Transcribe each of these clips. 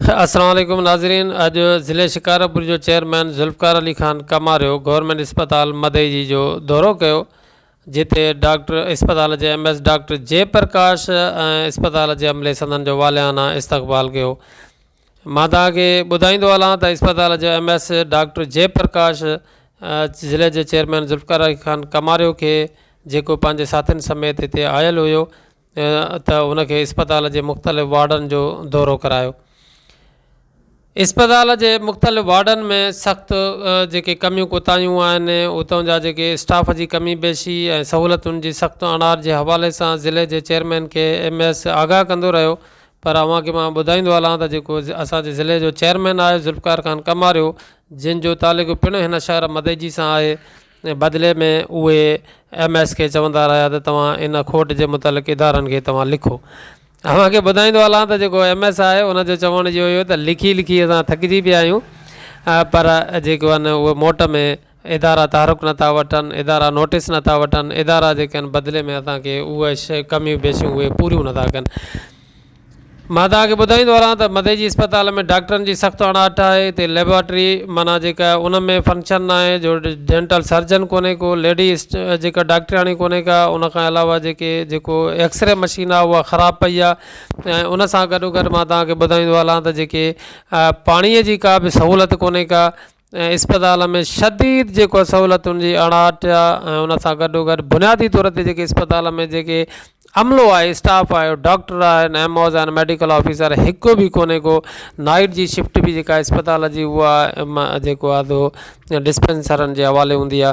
السلام عليڪم ناظرين اڄ ضلعي شڪارپور جو چيئرمين ذوالفقار علي خان ڪماريو گورنمينٽ اسپتال مدئجي جو دورو ڪيو جتي ڊاڪٽر اسپتال جي M S doctor J Prakash ۽ اسپتال جي عملي سندن جو واليانا استقبال ڪيو مان توهان کي ٻڌائيندو هلان ته اسپتال جو M S doctor J Prakash ضلع جي چيئرمين ذوالفقار علي خان ڪماريو کي جيڪو پنهنجي ساٿين سميت هتي آيل هيو ته ان کي اسپتال جي مختلف وارڊن جو دورو ڪرايو اسپتال جي مختلف وارڊن ۾ سخت جيڪي ڪميون ڪوتاهيون آهن اتان جا جيڪي اسٽاف جي ڪمي پيشي ۽ سهولتن جي سخت اڻاڙ جي حوالي سان ضلعي جي چيئرمين کي ايم ايس آگاهه ڪندو رهيو پر اوهان کي مان ٻڌائيندو هلان ته جيڪو اسانجي ضلعي جو چيئرمين آهي ذوالفقار خان ڪماريو جنهن جو تعلق پڻ هن شهر مدئجي سان آهي بدلي ۾ اهي ايم ايس کي چوندا رهيا ته توهان ان کوٽ جي متعلق ادارن کي توهان لکو. اوهان کي ٻڌائيندو هلان ته جيڪو ايم ايس آهي ان جو چوڻ اهو هيو ته لکي لکي اسان ٿڪجي پيا آهيون پر جيڪي آهن اهي موٽ ۾ ادارا تحرڪ نه ٿا وٺن، ادارا نوٽيس نه ٿا وٺن، ادارا جيڪي آهن بدلي ۾ اسان کي اهي ڪميون بيشون اهي پوريون نه ٿا ڪن. مان توهان کي ٻڌائيندو هلان ته مديجي اسپتال ۾ ڊاڪٽرن جي سخت اڻاٺ آهي هتي ليبارٽري معنيٰ جيڪا ان ۾ فنڪشن ناهي جو ڊينٽل سرجن ڪونهي ڪو ليڊي جيڪا ڊاڪٽرياڻي ڪونهي ڪا ان کان علاوه جيڪي جيڪو ايڪسري مشين آهي اها خراب پئي آهي ۽ ان سان گڏو گڏ مان توهان کي ٻڌائيندو هلان ته جيڪي پاڻيء جي ڪا به سهولت ڪونهي ڪا ۽ اسپتال ۾ شديد جيڪو سهولتن جي اڻاٺ آ ۽ ان سان گڏو گڏ بنيادي طور تي جيڪي اسپتال ۾ جيڪي عملو آهي اسٽاف آهي ڊاڪٽر آهن ايم اوز آهن ميڊيڪل آفيسر هڪ به ڪونهي ڪو نائيٽ جي شفٽ بي جيڪا اسپتال جي هو آ جيڪو آ ڏسپينسرن جي حوالي هوندي آ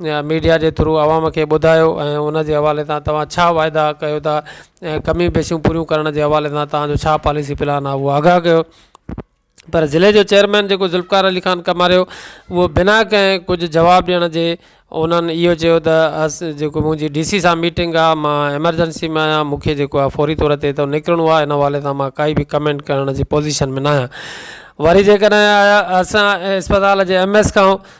ميڊيا جي ٿرو عوام کي ٻڌايو ۽ ان جي حوالي سان توهان ڇا واعدا ڪيو ٿا ۽ ڪميون پيشيون پوريون ڪرڻ جي حوالي سان توهان جو ڇا پاليسي پلان آهي اهو آگاهه ڪيو پر ضلعي جو چيئرمين جيڪو ذوالفقار علي خان ڪماريو اهو بنا ڪنهن ڪجهه جواب ڏيڻ جي انهن اهو چيو ته اس جيڪو منهنجي ڊي سي سان ميٽنگ آهي مان ايمرجنسي ۾ آهيان مون کي جيڪو آهي فوري طور تي اتو نڪرڻو آهي ان حوالي سان مان ڪائي به ڪمينٽ ڪرڻ جي پوزيشن ۾ ناهيان وري جيڪڏهن اسان اسپتال جي ايم ايس کان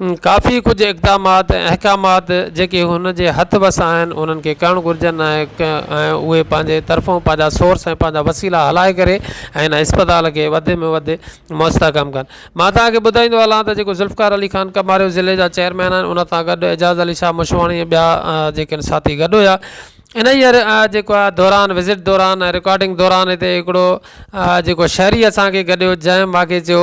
ڪافي ڪجهه اقدامات ۽ احڪامات جيڪي هن جي هٿ وس آهن انهن کي ڪرڻ گهرجن ۽ ۽ اهي پنهنجي طرفون پنهنجا سورس ۽ پنهنجا وسيلا هلائي ڪري ۽ هن اسپتال کي وڌ ۾ وڌ مستحڪم ڪن مان تهانکي ٻڌائيندو هلان ته جيڪو ذوالفقار علي خان ڪماريو ضلعي جا چيئرمين آهن ان سان گڏ اعجاز علي شاهه مشواڻي ۽ ٻيا جيڪي آهن ساٿي گڏ هيا انهيء جيڪو آهي دوران وزٽ دوران ۽ رڪارڊنگ دوران هتي هڪڙو جيڪو شهري اسانکي گڏيو جنهن ماکي چيو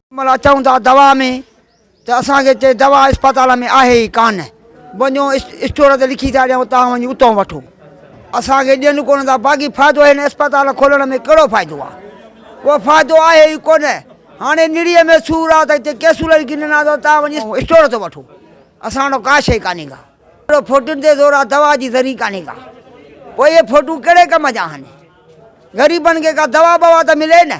ملا چئون ٿا دوا ۾ ته اسان کي چي دوا اسپتال ۾ آهي ئي ڪانه وڃو اسٽور تي لکي ٿا ڏيون تان وڃي اتون وٺو اسان کي ڏين ڪونه ٿا باقي فائدو هن اسپتال کولڻ ۾ ڪهڙو فائدو آ اهو فائدو آهي ئي ڪونه هاڻي نڙيء ۾ سور آ ته ڪيسولر ڪن ڏنا اٿو تان وڃي اسٽور تي وٺو اسان وٽ ڪا شي ڪانهي ڪا اهڙو فوٽن تي زور آ دوا جي ذري ڪانهي ڪا پوء اهي فوٽون ڪهڙي ڪم جا آهن غريبن کي ڪا دوا بوا ته ملي نه